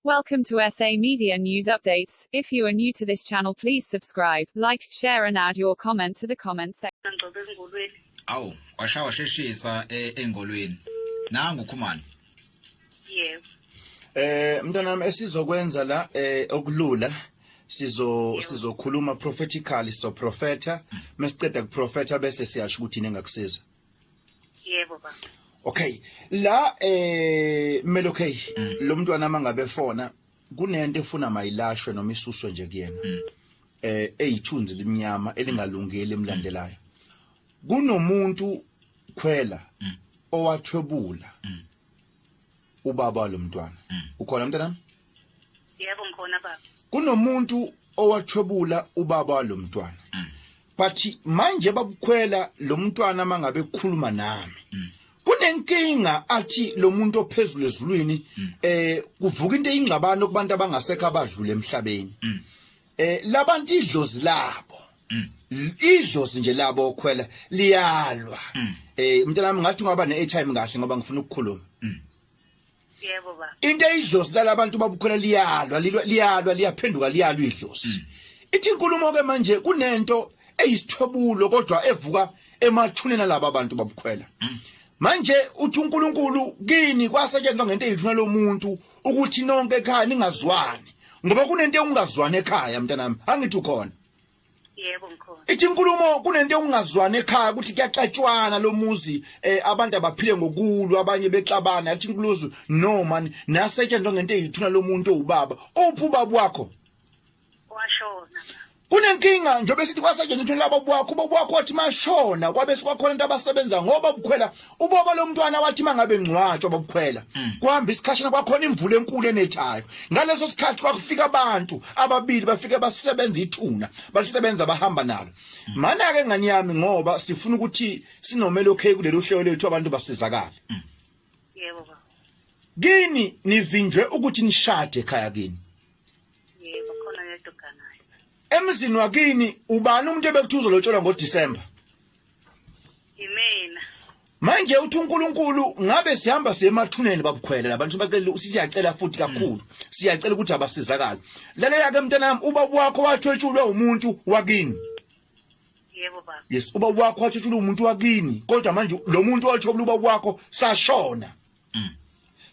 Welcome to SA Media News Updates. If you are new to this channel, please subscribe, like, share and add your comment to the comment section. Awu, washawa sheshisa eh, engolweni. Nangu ukhumani. Yes. Eh mntanami esizokwenza la eh okulula sizo sizokhuluma prophetically so prophetha mesiqeda kuprofetha bese siyasho ukuthi nengakusiza. yebo baba okay la eh melokay mm. lo mntwana mangabe fona kunento efuna mayilashwe noma isuswe nje kuyena mm. eh eyithunzi limnyama elingalungile emlandelayo mm. kunomuntu khwela mm. owathwebula ubaba lomntwana ukhona mntanami yebo ngikhona baba kunomuntu owathwebula ubaba walomntwana mm. but manje babukhwela lo mntwana mangabe kukhuluma nami mm. kunenkinga athi lo muntu ophezulu ezulwini mm. eh kuvuka into eyingxabano kubantu abangasekho abadlule emhlabeni mm. eh labantu idlozi labo mm. idlozi nje labo okhwela liyalwa eh mntanami ngathi ungaba ne-airtime kahle ngoba ngifuna ukukhuluma yebo ba into eyidlozi lala abantu babukhona liyalwa lilwa- liyalwa liyaphenduka liyalwa idlozi Mm. ithi inkulumo ke manje kunento eyisithobulo kodwa evuka emathuneni alaba abantu babukhwela Mm. manje uthi uNkulunkulu kini kwasetshenzwa ngento eyithuna lomuntu ukuthi nonke ekhaya ningazwani ngoba kunento engazwani ekhaya mntanami angithi ukhona yebo mkhona ithi inkulumo kunento yokungazwani ekhaya ukuthi kuyaxatshwana lo muzi eh abantu abaphile ngokulwa abanye bexabana athi inkuluzo no man nasetshenzwa ngento eyithuna lo muntu owubaba uphi ubaba wakho washona kunenkinga njengoba sithi kwasetshenziswa laba bwakho ubaba wakho wathi mashona kwabe sikwakhona into abasebenza ngoba bukhwela ubaba lomntwana wathi mangabe ngcwatshwa bokukhwela mm. kuhamba isikhashana kwakhona imvula enkulu enethayo ngaleso sikhathi kwakufika abantu ababili bafike basebenza ithuna balisebenza bahamba nalo mm. mana ke ngani yami ngoba sifuna ukuthi sinomele okay kulelo hlelo lethu abantu basizakala mm. yebo baba kini nivinjwe ukuthi nishade ekhaya kini yebo khona yedwa kanayo emzini wakini ubani umuntu ebekuthuzo lotshola ngo December Yimina. Manje uthi uNkulunkulu ngabe sihamba siyemathuneni babukhwele labantu bacela usiyacela futhi kakhulu. Siyacela ukuthi abasizakala. Lalela ke mntanami uba wakho wathwetshulwa umuntu wakini. Yebo baba. Yes uba wakho wathwetshulwa umuntu wakini kodwa manje lo muntu othobula uba wakho sashona. mm.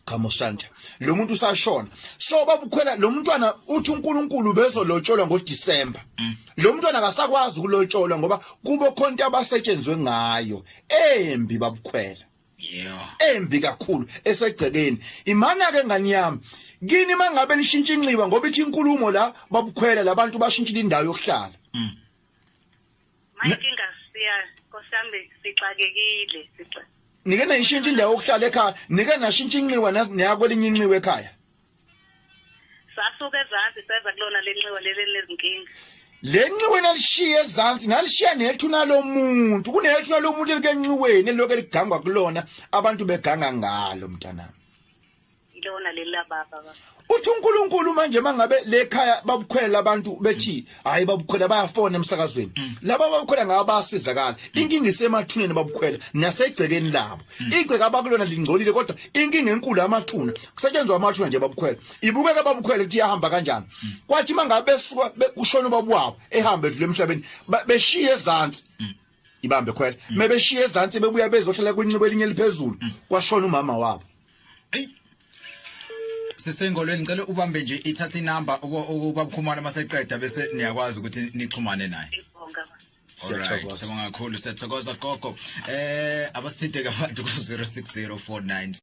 Khamusanta lo muntu usashona so babukhwela lo mntwana uthi uNkulunkulu bezolotsholwa ngoDecember mm. lo mntwana akasakwazi ukulotsholwa ngoba kubo khonto abasetshenzwe ngayo embi babukhwela yeah embi kakhulu esegcekeni imana ke ngani yami kini mangabe nishintsha inxiwa ngoba ithi inkulumo la babukhwela labantu bashintsha indawo yokuhlala mm. Mayinkinga siya nkosami sixakekile sixa. Nike nayishintsha indawo yokuhlala ekhaya, nike nashintsha inxiwa nas- naya kwelinye inxiwa ekhaya. Sasuka ezansi seza kulona lenxiwa leli lezinkinga. Le nxiwa nalishiya ezansi nalishiya nethuna lomuntu, kunethuna lomuntu elikenxiweni eliloke ligangwa kulona abantu beganga ngalo mntanami. ilona leli lababa baba uthi uNkulunkulu manje mangabe lekhaya babukhwela abantu bethi hayi babukhwela bayafona emsakazweni mm. laba babukhwela ngaba basizakala mm. inkinga isemathuneni babukhwela nasegcekeni labo mm. igceke abakulona lingcolile kodwa inkinga enkulu amathuna kusetshenzwa amathuna nje babukhwela ibukeka babukhwela ukuthi yahamba kanjani kwathi mangabe besuka kushona ubaba wabo ehamba edlule emhlabeni beshiye ezantsi ibambe khwela mebeshiye ezantsi bebuya bezohlala kwincibo elinye eliphezulu kwashona umama wabo Hey. Sisengolweni ngicela ubambe nje ithatha inamba ubabukhumana maseqeda bese niyakwazi ukuthi nixhumane naye. Siyathokoza. Siyabonga kakhulu siyathokoza gogo. Eh abasithinte ke abantu ku 060490